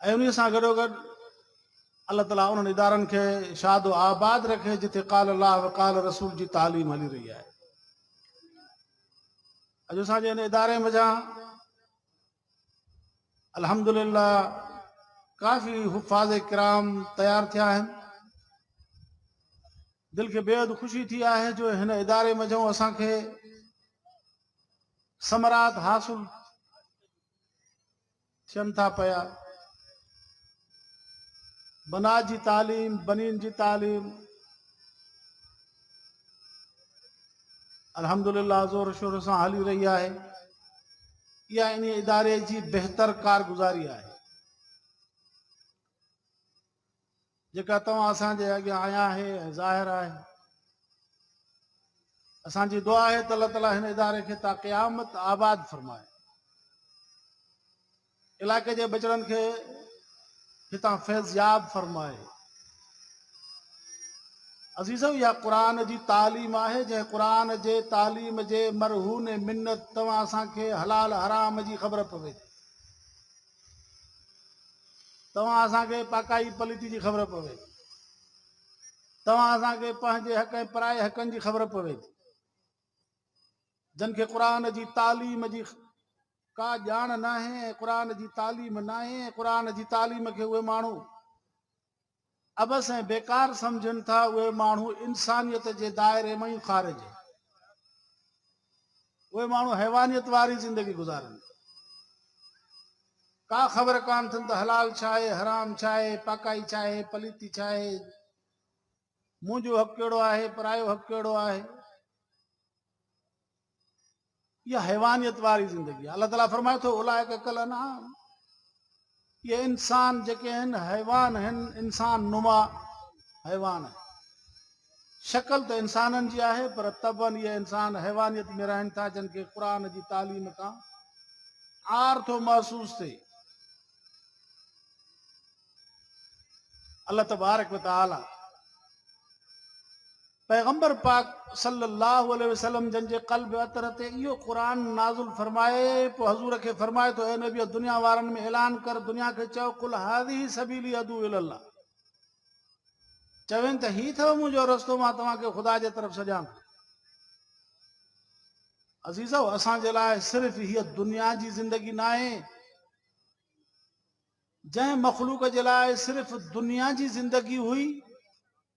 ۽ انهيء سان گڏوگڏ الله تعالي انهن ادارن کي شاد و آباد رکي جتي قال الله و قال رسول جي تعليم هلي رهي آهي اڄ اسان جي ان اداري منجهان الحمدلله ڪافي حفاظ کرام تيار ٿيا آهن دل کي بيحد خوشي ٿي آهي جو هن اداري منجهان اسان کي ثمرات حاصل ٿين ٿا پيا بنات جي تعليم بنين جي تعليم الحمدللہ زور شور سان هلي رهي آهي اها ان اداري جي بهتر ڪارگذاري آهي جيڪا توهان اسان جي اڳيان عيان آهي ۽ ظاهر آهي. اسان جي دعا آهي ته الله تعالي هن اداري کي تا قيامت آباد فرمائي. علاقي جي ٻچڙن کي هتان فيضياب فرمائي. عزيزو اها قرآن جي تعليم آهي جنهن قرآن جي تعليم جي مرهون منت توهان اسان کي حلال حرام جي خبر پوي ٿي. توهان اسان کي پاڪائي پليٽي جي خبر پوي ٿي توهان اسان کي پنهنجي حق ۽ پرائي حقن جي خبر پوي ٿي جن کي قرآن جي تعليم جي ڪا ڄاڻ ناهي ۽ قرآن جي تعليم ناهي ۽ قرآن جي تعليم کي اهي ماڻهو عبث ۽ بيڪار سمجهن ٿا اهي ماڻهو انسانيت جي دائري مان ئي خارج آهن اهي ماڻهو حيوانيت واري زندگي گذارن ٿا ڪا خبر ڪان ٿن ته حلال ڇا آهي حرام ڇا آهي پاڪائي ڇا آهي پليتي ڇا آهي منهنجو حق ڪهڙو آهي پرايو حق ڪهڙو آهي اها حيوانيت واري زندگي آهي الله تعاليٰ فرمائي ٿو اولائڪ کل انعام اهي انسان جيڪي آهن حيوان آهن انسان نما حيوان آهن شڪل ته انسانن جي آهي پر طبن اهي انسان حيوانيت ۾ رهن ٿا جن کي قرآ جي تعليم کان آر ٿو محسوس ٿئي الله تبارڪ وتعاليٰ پيغمبر پاڪ صلّي اللّٰه عليه وسلّم جن جي قلب عطر تي اهو قرآن نازل فرمائي پوء حضور کي فرمائي ٿو، اي نبيء دنيا وارن ۾ اعلان ڪر، دنيا کي چئو، قل هذه سبيلي ادعو الي الله، چوين ته هي اٿو منهنجو رستو مان توهان کي خدا جي طرف سڏيان ٿو. عزيزو اسان جي لاء صرف هيء دنيا جي زندگي ناهي جنهن مخلوق جي لاء صرف دنيا جي زندگي هئي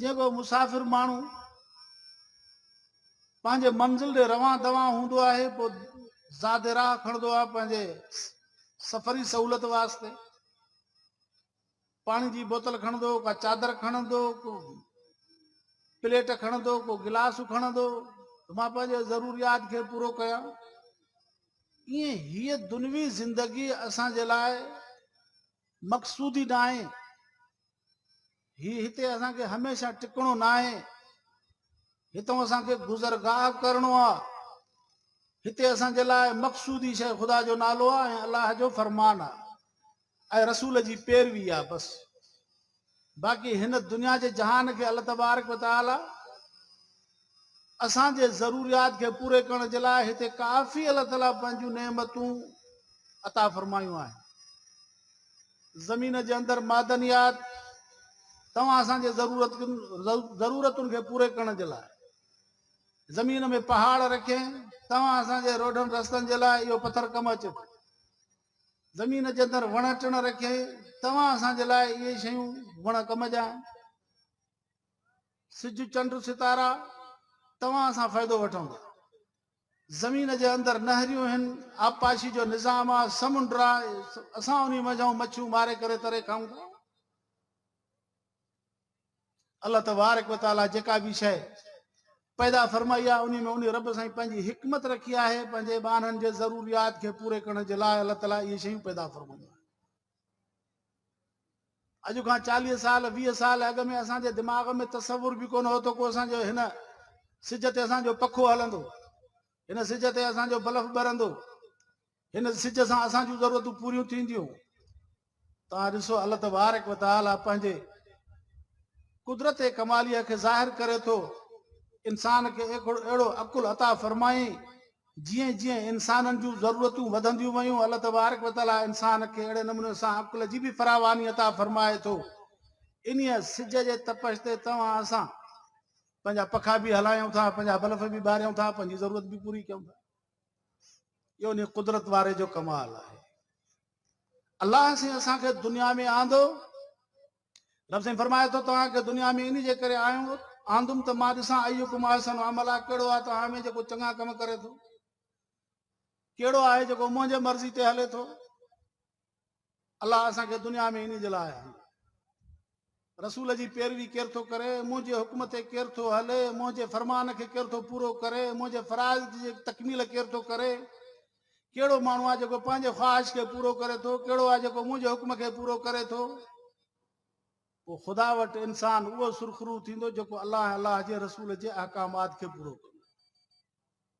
جيڪو مسافر ماڻهو پنهنجي منزل ڏي روان دوان هوندو آهي پوء زياده راهه کڻندو آهي پنهنجي سفري سهولت واسطي پاڻي جي بوتل کڻندو ڪا چادر کڻندو ڪو پليٽ کڻندو ڪو گلاس کڻندو مان پنهنجي ضروريات کي پورو ڪيان ائين هيء دنوي زندگي اسان جي لاء مقصودي ناهي. هي هتي اسان کي هميشه ٽڪڻو ناهي. هتون اسان کي گذرگاهه ڪرڻو آ. هتي اسان جي لاء مقصودي شيء خدا جو نالو آ ۽ الله جو فرمان آ ۽ رسول جي پيروي آ بس. باقي هن دنيا جي جهان کي الله تبارڪ و تعالي اسان جي ضروريات کي پوري ڪرڻ جي لاء هتي ڪافي الله تعالي پنهنجون نعمتون عطا فرمايون آهن زمين جي اندر معدنيات توهان اسان جي ضرورت ضرورتن کي پوري ڪرڻ جي لاء زمين ۾ پهاڙ رکين توهان اسان جي روڊن رستن جي لاء اهو پٿر ڪم اچي ٿو زمين جي اندر وڻ ٽڻ رکي توهان اسان جي لاء اهي شيون وڻ ڪم جا آهن سج چنڊ ستارا توهان اسان فائدو وٺون ٿا زمين جي اندر نهريون هن آبپاشي جو نظام آ سمنڊ آ اسان انهي منجهون مڇيون ماري ڪري تري کائون ٿا الله تبارڪ و تعالي جيڪا به شيء پيدا فرمائي آهي انهي ۾ انهي رب سائين پنهنجي حڪمت رکي آهي پنهنجي ٻانهن جي ضروريات کي پوري ڪرڻ جي لاء الله تعالي اهي شيون پيدا فرمايون آهن اڄ کان چاليهه سال ويهه سال اڳ ۾ اسان جي دماغ ۾ تصور به ڪونه هو ته کو اسان جو هن سج تي اسان جو پکو هلندو هن سج تي اسان جو بلف ٻرندو هن سج سان اسان جون ضرورتون پوريون ٿينديون تان ڏسو الله تبارڪ وتعالي پنهنجي قدرت ڪماليء کي ظاهر ڪري ٿو انسان کي اهڙو عقل عطا فرمائي جيئن جيئن انسانن جون ضرورتون وڌنديون ويون الله تبارڪ وتعالي انسان کي اهڙي نموني سان عقل جي به فراواني عطا فرمائي ٿو انهيء سج جي تپش تي توهان اسان پنهنجا پکا به هلايون ٿا پنهنجا بلف به ٻاريون ٿا پنهنجي ضرورت به پوري ڪيون ٿا اهو انهي قدرت واري جو ڪمال آهي الله سين اسان کي دنيا ۾ آندو رب سين فرمائي ٿو توهان کي دنيا ۾ انهي جي ڪري آيو آندم ته مان ڏسان ايو ڪم احسن عمل آهي ڪهڙو آهي توهان ۾ جيڪو چڱا ڪم ڪري ٿو ڪهڙو آهي جيڪو منهنجي مرضي تي هلي ٿو الله اسان کي دنيا ۾ انهي جي لاء آيا آهيون. رسول جي پيروي ڪير ٿو ڪري، منهنجي حڪم تي ڪير ٿو هلي، منهنجي فرمان کي ڪير ٿو پورو ڪري، منهنجي فرائض جي تڪميل ڪير ٿو ڪري، ڪهڙو ماڻهو آهي جيڪو پنهنجي خواهش کي پورو ڪري ٿو، ڪهڙو آهي جيڪو منهنجي حڪم کي پورو ڪري ٿو. پوء خدا وٽ انسان اهو سرخرو ٿيندو جيڪو الله ۽ الله جي رسول جي احڪامات کي پورو ڪندو.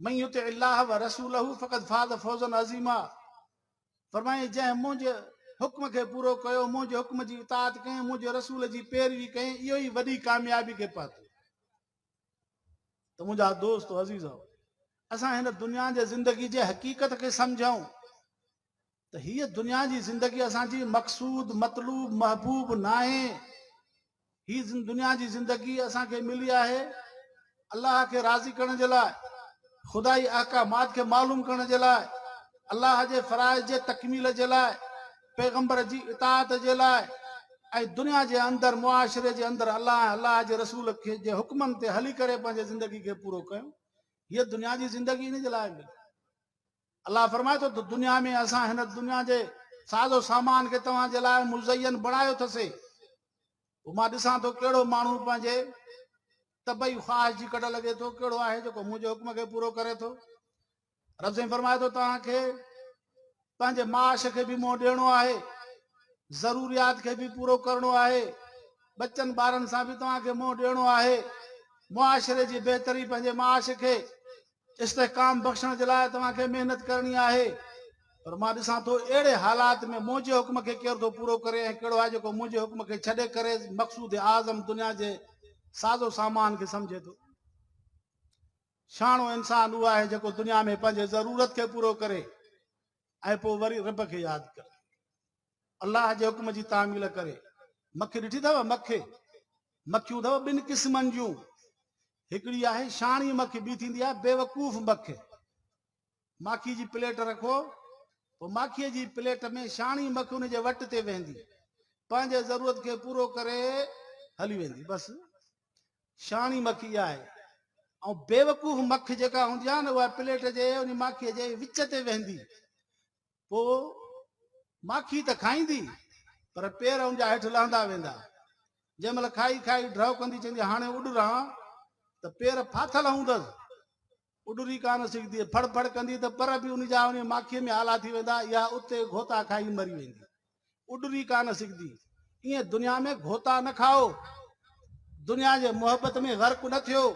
من يطع الله ورسوله فقد فاز فوزا عظيما فرمائي جنهن منهنجي حڪم کي پورو ڪيو منهنجي حڪم جي اطاعت ڪيائين منهنجي رسول جي پيروي ڪيائين اهو ئي وڏي ڪاميابي کي پاتو ته منهنجا دوست عزيز اسان هن دنيا جي زندگي جي حقيقت کي سمجھون ته هيء دنيا جي زندگي اسان جي مقصود مطلوب محبوب ناهي هي دنيا جي زندگي اسان کي ملي آهي الله کي راضي ڪرڻ جي لاء خدائي احڪامات کي معلوم ڪرڻ جي لاء الله جي فرائض جي تڪميل جي لاء پيغمبر جي اطاعت جي لاء ۽ دنيا جي اندر معاشري جي اندر الله ۽ الله جي رسول کي جي حڪمن تي هلي ڪري پنهنجي زندگي کي پورو ڪيو هيء دنيا جي زندگي ان جي لاء ملي الله فرمائي ٿو ته دنيا ۾ اسان هن دنيا جي ساز و سامان کي توهان جي لاء مزين بڻايو اٿسي پوء مان ڏسان ٿو ڪهڙو ماڻهو پنهنجي طبعي خواهش جي ڪڍ لڳي ٿو ڪهڙو آهي جيڪو منهنجي حڪم کي پورو ڪري ٿو رب سائين فرمائي ٿو توهان کي پنهنجي معاش کي به منهن ڏيڻو آهي ضروريات کي به پورو ڪرڻو آهي ٻچن ٻارن سان به توهان کي منهن ڏيڻو آهي معاشري جي بهتري پنهنجي معاش کي استحڪام بخشڻ جي لاء توهان کي محنت ڪرڻي آهي پر مان ڏسان ٿو اهڙي حالات ۾ منهنجي حڪم کي ڪير ٿو پورو ڪري ۽ ڪهڙو آهي جيڪو منهنجي حڪم کي ڇڏي ڪري مقصود اعظم دنيا جي ساز و سامان کي سمجهي ٿو شاڻو انسان اهو آهي جيڪو دنيا ۾ پنهنجي ضرورت کي پورو ڪري ۽ پوء وري رب کي ياد ڪري الله جي حڪم جي تعميل ڪري. مکي ڏٺي اٿو مکي مکيون اٿو ٻن قسمن جون هڪڙي آهي شاڻي مکي ٻي ٿيندي آهي بيوقوف مکي ماکي جي پليٽ رکو پوء ماکي جي پليٽ ۾ شاڻي مکي ان جي وٽ تي ويندي پنهنجي ضرورت کي پورو ڪري هلي ويندي بس شاڻي مکي آهي ۽ بيوقوف مک جيڪا هوندي آهي نه اها پليٽ جي ان ماکي جي وچ تي ويندي پوء ماکي ته کائيندي پر پير ان جا هيٺ لهندا ويندا. جنهن مهل کائي کائي ڊهو ڪندي چوندي هاڻي اڏران ته پير ڦاٿل هوندس. اڏري ڪانه سگهندي. ڦڙ ڦڙ ڪندي ته پر به ان جا ان ماکيء ۾ آلا ٿي ويندا يا اتي گهوتا کائي مري ويندي. اڏري ڪانه سگهندي. ائين دنيا ۾ گهوتا نه کائو. دنيا جي محبت ۾ غرق نه ٿيو.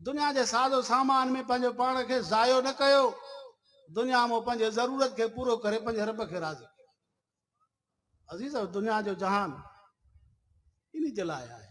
دنيا جي ساز و سامان ۾ پنهنجو پاڻ کي ضايع نه ڪيو. دنيا مان پنهنجي ضرورت کي پورو ڪري پنهنجي رب کي راضي ڪيو. عزيزو! دنيا جو جهان انهي جي لاء آهي.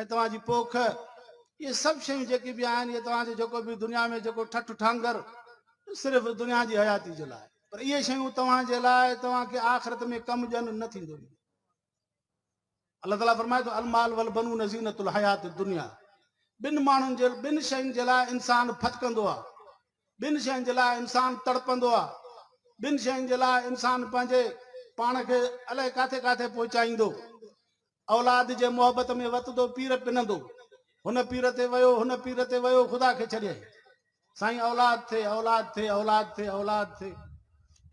۽ توهان جي پوک، اهي سڀ شيون جيڪي به آهن، اهي توهان جو جيڪو به دنيا ۾ جيڪو ٺٺ ٺانگر صرف دنيا جي حياتي جي لاء پر اهي شيون توهان جي لاء توهان کي آخرت ۾ ڪم ڏين نه ٿيندو اهي الله تعاليٰ فرمائي ٿو المال والبنون زينت الحيات الدنيا بن ماڻهن جي بن شين جي لاء انسان ڦٿڪندو آ بن شين جي لاء انسان تڙپندو آ بن شين جي لاء انسان پنهنجي پاڻ کي الائي ڪاٿي ڪاٿي پهچائيندو اولاد جي محبت ۾ وتندو پير پنندو هن پير تي ويو هن پير تي ويو خدا کي ڇڏيائين سائين اولاد ٿي اولاد ٿي اولاد ٿي اولاد ٿي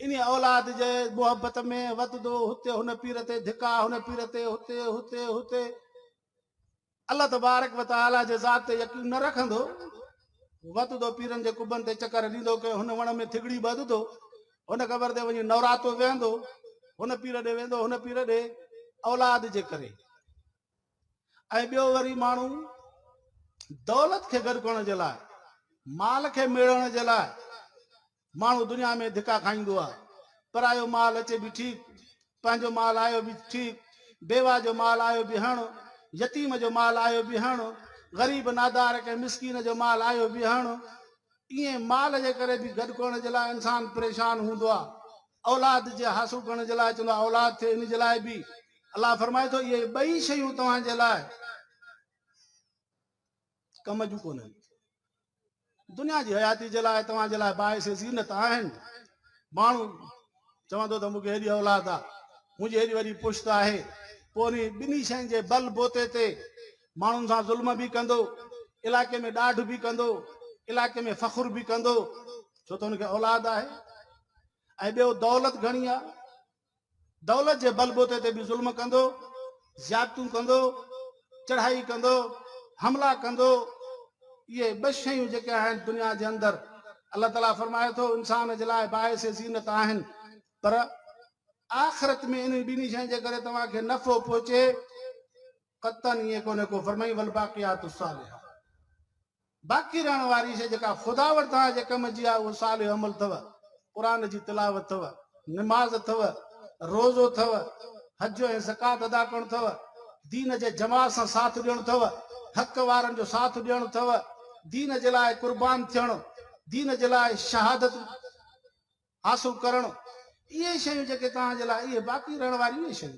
ان اولاد جي محبت ۾ وتندو هتي هن پير تي ڌڪا هن پير تي هتي هتي هتي الله تبارڪ وتعالى جي ذات تي يقين نه رکندو وتندو پيرن جي قبن تي چڪر ڏيندو ڪنهن هن وڻ ۾ ٿڳڙي ٻڌندو هن قبر تي وڃي نوراتو ويهندو، هن پير ڏي ويندو، هن پير ڏي اولاد جي ڪري ۽ ٻيو وري ماڻهو دولت کي گڏ ڪرڻ جي لاء مال کي ميڙڻ جي لاء ماڻهو دنيا ۾ ڌڪا کائيندو آهي پرايو مال اچي به ٺيڪ پنهنجو مال آيو به ٺيڪ بيوا جو مال آيو به هڻ يتيم جو مال آيو به هڻ غريب نادار ڪنهن مسڪين جو مال آيو به هڻ تيئن مال جي ڪري به گڏ ڪرڻ جي لاء انسان پريشان هوندو آهي، اولاد جي حاصل ڪرڻ جي لاء چوندو آهي اولاد ٿئي ان جي لاء به الله فرمائي ٿو اهي ٻئي شيون توهان جي لاء ڪم جون ڪونهن دنيا جي حياتي جي لاء توهان جي لاء باعث زينت آهن ماڻهو چوندو ته مونکي هيڏي اولاد آهي منهنجي هيڏي وڏي پشت آهي پوء ٻنهي شين جي بل بوتي تي ماڻهن سان ظلم به ڪندو، علائقي ۾ ڏاڍ به ڪندو، علائقي ۾ فخر به ڪندو، ڇو ته هن کي اولاد آهي ۽ ٻيو دولت گهڻي آهي، دولت جي بلبوتي تي به ظلم ڪندو، زيادتون ڪندو، چڙهائي ڪندو، حملا ڪندو، اهي ٻه شيون جيڪي آهن دنيا جي اندر الله تعالي فرمائي ٿو انسان جي لاء باعث زينت آهن پر آخرت ۾ انهن ٻنهي شين جي ڪري توهان کي نفعو پهچي قطعاً ائين ڪونهي ڪو فرمائي والباقيات الصالحات باقي رهڻ واري شيء جيڪا خدا وٽ توهان جي ڪم جي آهي اهو صالح عمل اٿو قرآن جي تلاوت اٿو نماز اٿو روزو اٿو حج ۽ زڪات ادا ڪرڻ اٿو دين جي جماعت سان ساٿ ڏيڻ اٿو حق وارن جو ساٿ ڏيڻ اٿو دين جي لاء قربان ٿيڻ دين جي لاء شهادت حاصل ڪرڻ اهي شيون جيڪي توهان جي لاء اهي باقي رهڻ واريون اهي شيون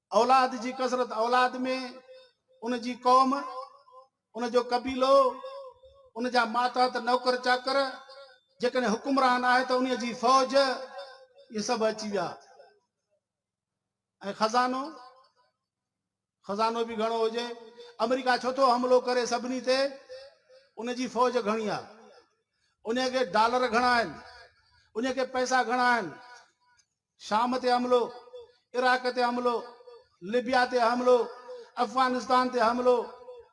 اولاد جي ڪثرت اولاد ۾ ان جي قوم، ان جو قبيلو، ان جا ماتحت نوڪر چاڪر، جيڪڏهن حڪمران آهي ته انهيء جي فوج، اهي سڀ اچي ويا. ۽ خزانو، خزانو به گهڻو هجي. آمريڪا ڇو ٿو حملو ڪري سڀني تي؟ ان جي فوج گهڻي آهي. انهيء کي ڊالر گهڻا آهن. انهيء کي پئسا گهڻا آهن. شام تي حملو، عراق تي حملو، ليبيا تي حملو، افغانستان تي حملو،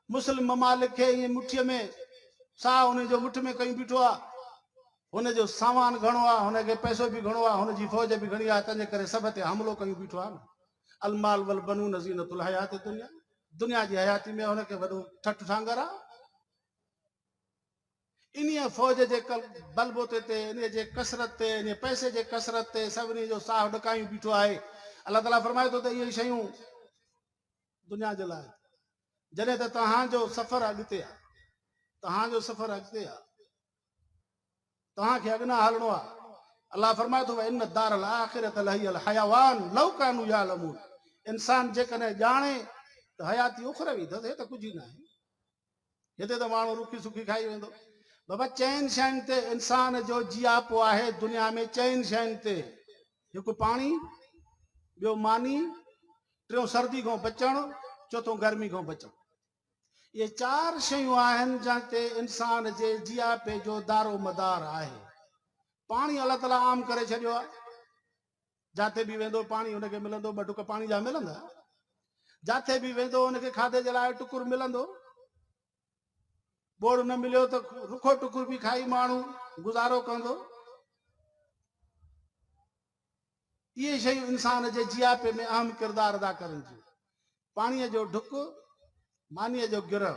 مسلم ممالڪ کي ائين مٺيء ۾ ساهه انهن جو مٺ ۾ ڪيون بيٺو آ. هن جو سامان گهڻو آ، هن کي پئسو به گهڻو آ، هن جي فوج به گهڻي آ، تنهن جي ڪري سڀ تي حملو ڪيون بيٺو آ نه. المال والبنون زينة الحيات الدنيا، دنيا جي حياتي ۾ هن کي وڏو ٺٺ ٺانگر آ. انهيء فوج جي بلبوتي تي، انهيء جي ڪثرت تي، انهيء پئسي جي ڪثرت تي سڀني جو ساهه ڏڪايون بيٺو آهي. الله تعاليٰ فرمائي ٿو ته اهي شيون دنيا جي لاء آهن. جڏهن ته توهان جو سفر اڳتي آهي. توهان جو سفر اڳتي آهي. توهان کي اڳنا هلڻو آهي. الله فرمائي ٿو وان الدار الاخرة لهي الحيوان لو ڪانو يعلمون انسان جيڪڏهن ڄاڻي ته حياتي اخروي اٿس هي ته ڪجهه ئي ناهي. هتي ته ماڻهو رکي سکي کائي ويندو بابا چئن شين تي انسان جو جياپو آهي دنيا ۾ چئن شين تي هڪ پاڻي ٻيو ماني ٽيون سردي کان بچڻ چوٿون گرمي کان بچڻ اهي چار شيون آهن جن تي انسان جي جياپي جو دارو مدار آهي پاڻي الله تعالیٰ عام ڪري ڇڏيو آهي جاتي به ويندو پاڻي هن کي ملندو، ٻه ٽڪ پاڻي جا ملندا. جاتي به ويندو هن کي کاڌي جي لاء ٽڪر ملندو. ٻوڙ نه مليو ته رکو ٽڪر به کائي ماڻهو گذارو ڪندو. اهي شيون انسان جي جياپي ۾ اهم ڪردار ادا ڪرن ٿيون. پاڻيء جو ڍڪ، مانيء جو گرهه،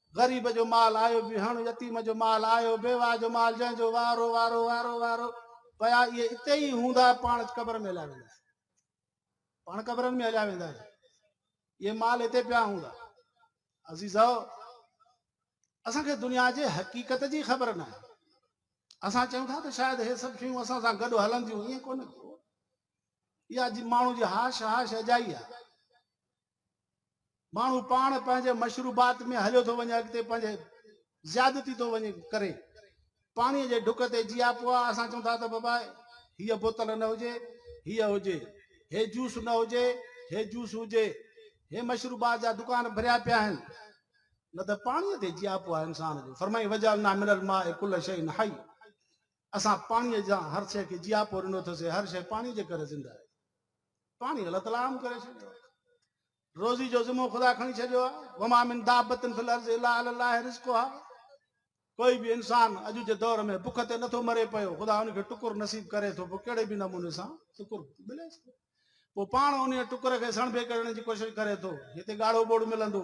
غريب جو مال آيو به هڻ يتيم جو مال آيو بيواهه جو مال جنهن جو وارو وارو وارو وارو پيا اهي اتي ئي هوندا پاڻ قبر ۾ هليا ويندا پاڻ قبرن ۾ هليا ويندا اهي مال اتي پيا هوندا عزيزو اسان کي دنيا جي حقيقت جي خبر نه آهي اسان چون ٿا ته شايد هي سڀ شيون اسان سان گڏ هلنديون ائين ڪونه ٿيو اها جي ماڻهو جي هاش هاش اجائي آهي ماڻهو پاڻ پنهنجي مشروبات ۾ هليو ٿو وڃي اڳتي پنهنجي زيادتي ٿو وڃي ڪري پاڻي جي ڍڪ تي جيا پوا اسان چون ٿا ته بابا هي بوتل نه هجي هي هجي هي جوس نه هجي هي جوس هجي هي مشروبات جا دڪان ڀريا پيا آهن نه ته پاڻي تي جيا پوا انسان جو فرمائي وجالنا من الماء كل شيء حي اسان پاڻي جا هر شيء کي جيا پو ڏنو ٿسي هر شيء پاڻي جي ڪري زنده آهي پاڻي غلط لام ڪري ڇڏيو روزي جو ذمو خدا کڻي ڇڏيو آ وما من دابتن في الارض الا على الله رزقها ڪوئي به انسان اڄ جي دور ۾ بک تي نٿو مري پيو خدا ان کي ٽڪر نصيب ڪري ٿو پوء ڪهڙي به نموني سان ٽڪر ملي ٿو پوء پاڻ ان ٽڪر کي سڻڀي ڪرڻ جي ڪوشش ڪري ٿو هتي ڳاڙهو ٻوڙ ملندو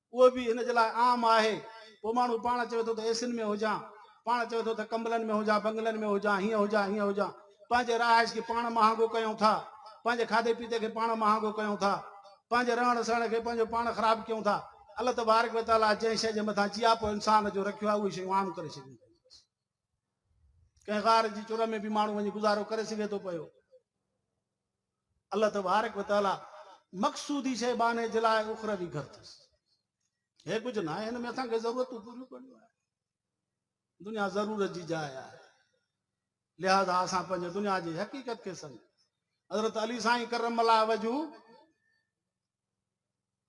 اهو به ان جي لاء عام آهي. پوء ماڻهو پاڻ چوي ٿو ته اي سين ۾ هجان، پاڻ چوي ٿو ته ڪنبلن ۾ هجان، بنگلن ۾ هجان، هيئن هجان، هيئن هجان. پنهنجي رهائش کي پاڻ مهانگو ڪيون ٿا، پنهنجي کاڌي پيتي کي پاڻ مهانگو ڪيون ٿا، پنهنجي رهڻ سهڻ کي پنهنجو پاڻ خراب ڪيون ٿا. الله تبارڪ و تعاليٰ جنهن شيء جي مٿان جياپو انسان جو رکيو آهي، اهي شيون عام ڪري ڇڏيون اٿائين. ڪنهن غار جي چور ۾ به ماڻهو وڃي گذارو ڪري سگهي ٿو پيو. الله تبارڪ و تعالي مقصودي شيء بانهي جي لاء اخروي گهر اٿس هي ڪجهه ناهي هن ۾ اسان کي ضرورتون پوريون ڪرڻيون آهن دنيا ضرورت جي جاء آهي لہذا اسان پنهنجي دنيا جي حقيقت کي سمجھ حضرت علي سائين کرم الله وجو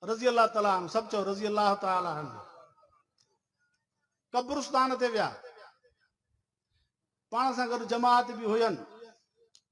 رضي الله تعالي عنه سڀ چو رضي الله تعالي عنه قبرستان تي ويا پاڻ سان گڏ جماعت به هين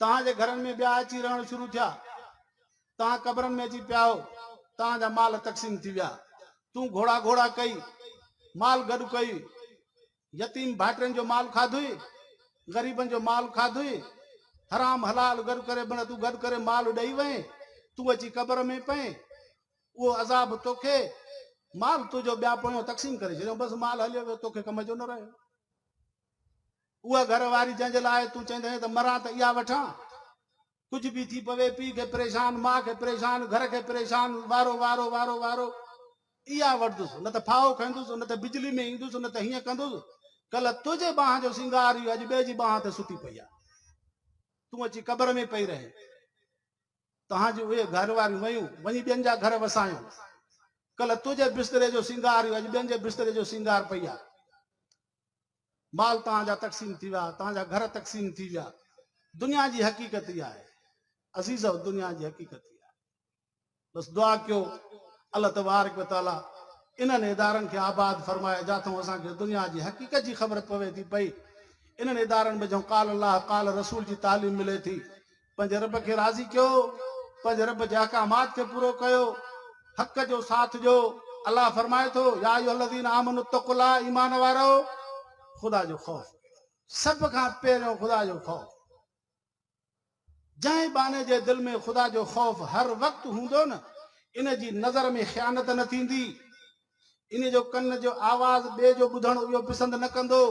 توهان جي گهرن ۾ ٻيا اچي رهڻ شروع ٿيا. توهان قبرن ۾ اچي پيا هو. توهان جا مال تقسيم ٿي ويا. تون گهوڙا گهوڙا ڪئي، مال گڏ ڪيئي. يتيم ڀائٽين جو مال کاڌوئي، غريبن جو مال کاڌوئي. حرام حلال گڏ ڪري بنهه تون گڏ ڪري مال ڏئي وئين. تون اچي قبر ۾ پئين. اهو عذاب توکي، مال تنهنجو ٻيا پويان تقسيم ڪري ڇڏيائون. بس مال هليو ويو، توکي ڪم جو نه رهيو. اها گهر واري جنهن جي لاء تون چئيندينء ته مران ته اها وٺان. ڪجهه به ٿي پوي، پيء کي پريشان، ماء کي پريشان، گهر کي پريشان، وارو وارو وارو وارو اها وٺندس. نه ته ڦاهو کائيندس، نه ته بجلي ۾ ايندس، نه ته هيئن ڪندس. ڪلهه تنهنجي ٻانهن جو سينگار هيو، اڄ ٻئي جي ٻانهن تي ستي پئي آهي. تون اچي قبر ۾ پئي رهين. توهان جون اهي گهر واريون ويون، وڃي ٻين جا گهر وسايون. ڪلهه تنهنجي بستري جو سينگار هيو، اڄ ٻين جي بستري جو سينگار پئي آهي. مال توهان جا تقسيم ٿي ويا، توهان جا گهر تقسيم ٿي ويا. دنيا جي حقيقت اها آهي عزيزؤ دنيا جي حقيقت اها آهي. بس دعا ڪيو الله تبارڪ و تعالي انهن ادارن کي آباد فرمائي جاٿئون اسان کي دنيا جي حقيقت جي خبر پوي ٿي پئي. انهن ادارن ۾ جئون قال الله قال رسول جي تعليم ملي ٿي پنهنجي رب کي راضي ڪيو، پنهنجي رب جي احڪامات کي پورو ڪيو، حق جو ساٿ ڏيو، الله فرمائي ٿو، يا ايها الذين آمنوا اتقوا الله ايمان وارؤ! خدا جو خوف ڪريو، سڀ کان پهريون خدا جو خوف ڪريو، جنهن ٻانهي جي دل ۾ خدا جو خوف هر وقت هوندو نه ان جي نظر ۾ خيانت نه ٿيندي، ان جو ڪن جو آواز ٻئي جو ٻڌڻ اهو پسند نه ڪندو.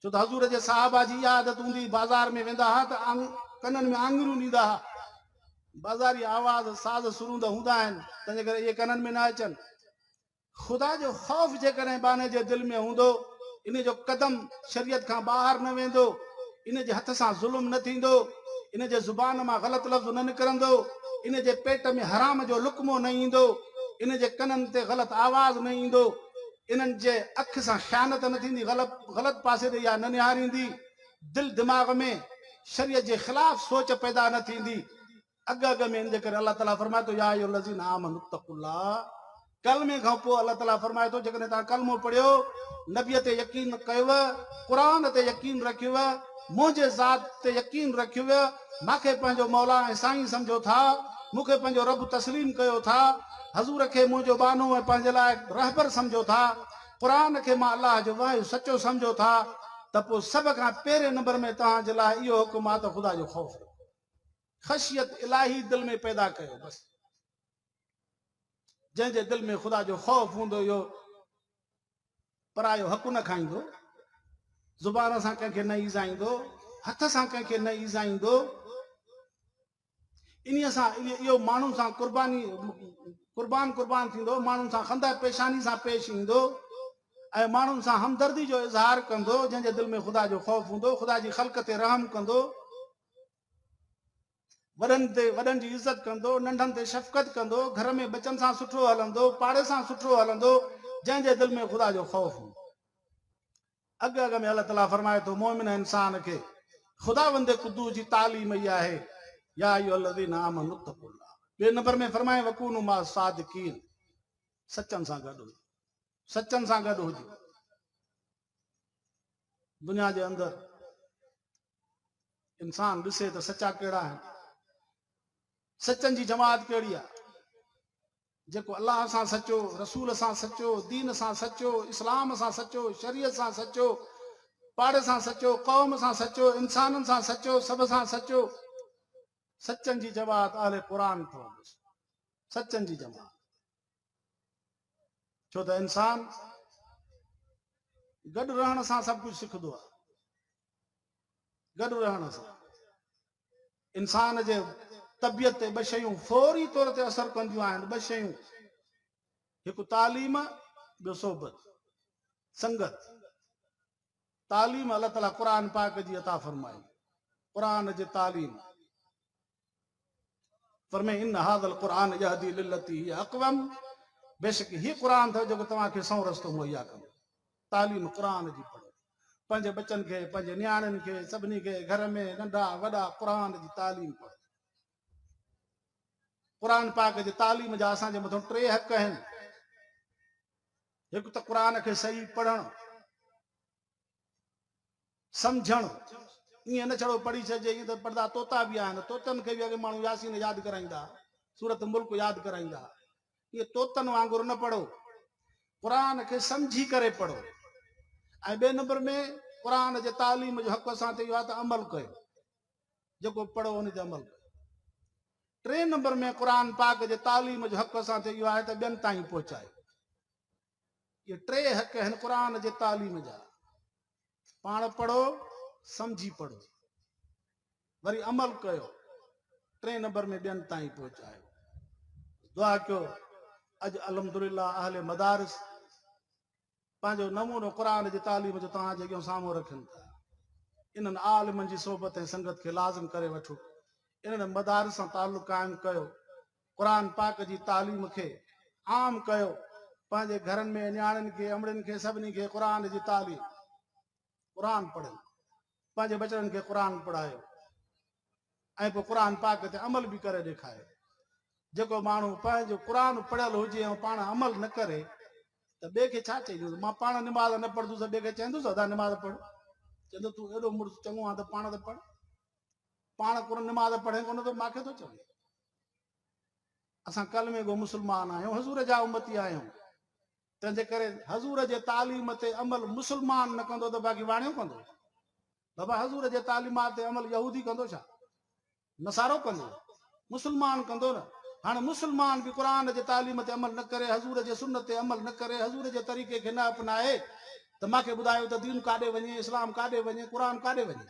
ڇو ته حضور جي صحابه جي اها عادت هوندي هئي بازار ۾ ويندا ها ته ڪنن ۾ آڱريون ڏيندا ها. بازاري آواز، ساز سروندا هوندا آهن، تنهنجي ڪري اهي ڪنن ۾ نه اچن. خدا جو خوف جيڪڏهن ٻانهي جي دل ۾ هوندو، ان جو قدم شريعت کان ٻاهر نه ويندو، ان جي هٿ سان ظلم نه ٿيندو، ان جي زبان مان غلط لفظ نه نڪرندو، ان جي پيٽ ۾ حرام جو لقمو نه ايندو، ان جي ڪنن تي غلط آواز نه ايندو. انهن جي اک سان خيانت نه ٿيندي، غلط پاسي ڏي اها نه نهاريندي، دل دماغ ۾ شريعت جي خلاف سوچ پيدا نه ٿيندي، اڳ اڳ ۾ ان جي ڪري الله تعالي فرمائي ٿو يا ايها الذين آمنوا اتقوا الله ڪلمي کان پوء الله تعالي فرمائي ٿو جيڪڏهن توهان ڪلمو پڙهيو نبي تي يقين ڪيو قرآن تي يقين رکيو منهنجي ذات تي يقين رکيو مان کي پنهنجو مولا ۽ سائين سمجهو ٿا، مون کي پنهنجو رب تسليم ڪيو ٿا، حضور کي منهنجو ٻانهو ۽ پنهنجي لاء رهبر سمجهو ٿا، قرآن کي مان الله جو وحي سچو سمجهو ٿا ته پوء سڀ کان پهرين نمبر ۾ توهان جي لاء اهو حڪم آهي ته خدا جو خوف رکو. خشيت الاهي دل ۾ پيدا ڪيو بس. جنهن جي دل ۾ خدا جو خوف هوندو اهو پرايو حق نه کائيندو، زبان سان ڪنهن کي نه ايذائيندو، هٿ سان ڪنهن کي نه ايذائيندو. انهيء سان اهو ماڻهن سان قرباني قربان قربان ٿيندو، ماڻهن سان خنده پيشاني سان پيش ايندو ۽ ماڻهن سان همدردي جو اظهار ڪندو، جنهن جي دل ۾ خدا جو خوف هوندو، خدا جي خلق تي رحم ڪندو. وڏن تي وڏن جي عزت ڪندو، ننڍن تي شفقت ڪندو، گهر ۾ ٻچن سان سٺو هلندو، پاڙي سان سٺو هلندو، جنهن جي دل ۾ خدا جو خوف هوندو. اڳ اڳ ۾ الله تعالي فرمائي ٿو مؤمن انسان کي خداوند قدوس جي تعليم اها آهي يا ايها الذين آمنوا اتقوا الله ٻئي نمبر ۾ فرمائي وڪونوا مع الصادقين سچن سان گڏ هجو سچن سان گڏ هجو دنيا جي اندر انسان ڏسي ته سچا ڪهڙا آهن، سچن جي جماعت ڪهڙي آهي، جيڪو الله سان سچو، رسول سان سچو، دين سان سچو، اسلام سان سچو، شريعت سان سچو، پاڙي سان سچو، قوم سان سچو، انسانن سان سچو، سڀ سان سچو، سچن جي جماعت اهل قرآن ٿو سچن جي جماعت ڇو ته انسان گڏ رهڻ سان سڀ ڪجهه سکندو آهي گڏ رهڻ سان انسان جي طبيعت تي ٻه شيون فوري طور تي اثر ڪنديون آهن ٻه شيون هڪ تعليم ٻيو صحبت سنگت تعليم الله تعالیٰ قرآن پاڪ جي عطا فرمائي قرآن جي تعليم فرمائي ان هذا القرآن يهدي للتي هي اقوم بيشڪ هي قرآن ٿو جيڪو توهان کي سنئون رستو مهيا ڪندو تعليم قرآن جي پڙهو پنهنجي بچن کي پنهنجي نياڻين کي سڀني کي گهر ۾ ننڍا وڏا قرآن جي تعليم پڙهو قرآن پاڪ جي تعليم جا اسان جي مٿان ٽي حق آهن هڪ ته قرآن کي صحيح پڙهڻ سمجهڻ ائين نه ڇڙو پڙهي ڇڏجي ائين ته پڙدا طوطا به آهن طوطن کي به اڳي ماڻهو ياسين ياد ڪرائيندا سورت ملڪ ياد ڪرائيندا ائين طوطن وانگر نه پڙهو قرآن کي سمجهي ڪري پڙهو ۽ ٻئي نمبر ۾ قرآن جي تعليم جو حق اسان تي اهو آهي ته عمل ڪيو جيڪو پڙهو ان تي عمل ڪيو ٽئين نمبر ۾ قرآن پاڪ جي تعليم جو حق اسان تي اهو آهي ته ٻين تائين پهچايو اهي ٽي حق آهن قرآن جي تعليم جا پاڻ پڙهو سمجهي پڙهو وري عمل ڪيو ٽئين نمبر ۾ ٻين تائين پهچايو دعا ڪيو اڄ الحمد للہ اهل مدارس پنهنجو نمونو قرآن جي تعليم جو توهان جي اڳيان سامهون رکن ٿا انهن عالمن جي صحبت ۽ سنگت کي لازم ڪري وٺو انهن مدارس سان تعلق قائم ڪيو قرآن پاڪ جي تعليم کي عام ڪيو پنهنجي گهرن ۾ نياڻين کي امڙين کي سڀني کي قرآن جي تعليم قرآن پڙهن پنهنجي بچڙن کي قرآن پڙهايو ۽ پوء قرآن پاڪ تي عمل به ڪري ڏيکاريو جيڪو ماڻهو پنهنجو قرآن پڙهيل هجي ۽ پاڻ عمل نه ڪري ته ٻئي کي ڇا چئجوس مان پاڻ نماز نه پڙهندس ٻئي کي چئندوس ادا نماز پڙھ چوندو تون اهڙو مڙس چڱو آ ته پاڻ ته پڙھ پاڻ ڪو نماز پڙهي ڪونه ٿو ماکي ٿو چوي اسان ڪلمي گو مسلمان آهيون حضور جا امتي آهيون تنهنجي ڪري حضور جي تعليم تي عمل مسلمان نه ڪندو ته باقي واڻيو ڪندو بابا حضور جي تعليمات تي عمل يهودي ڪندو ڇا نصارو ڪندو مسلمان ڪندو نه هاڻي مسلمان به قرآن جي تعليم تي عمل نه ڪري حضور جي سنت تي عمل نه ڪري حضور جي طريقي کي نه اپنائي ته ماکي ٻڌايو ته دين ڪاڏي وڃي اسلام ڪاڏي وڃي قرآن ڪاڏي وڃي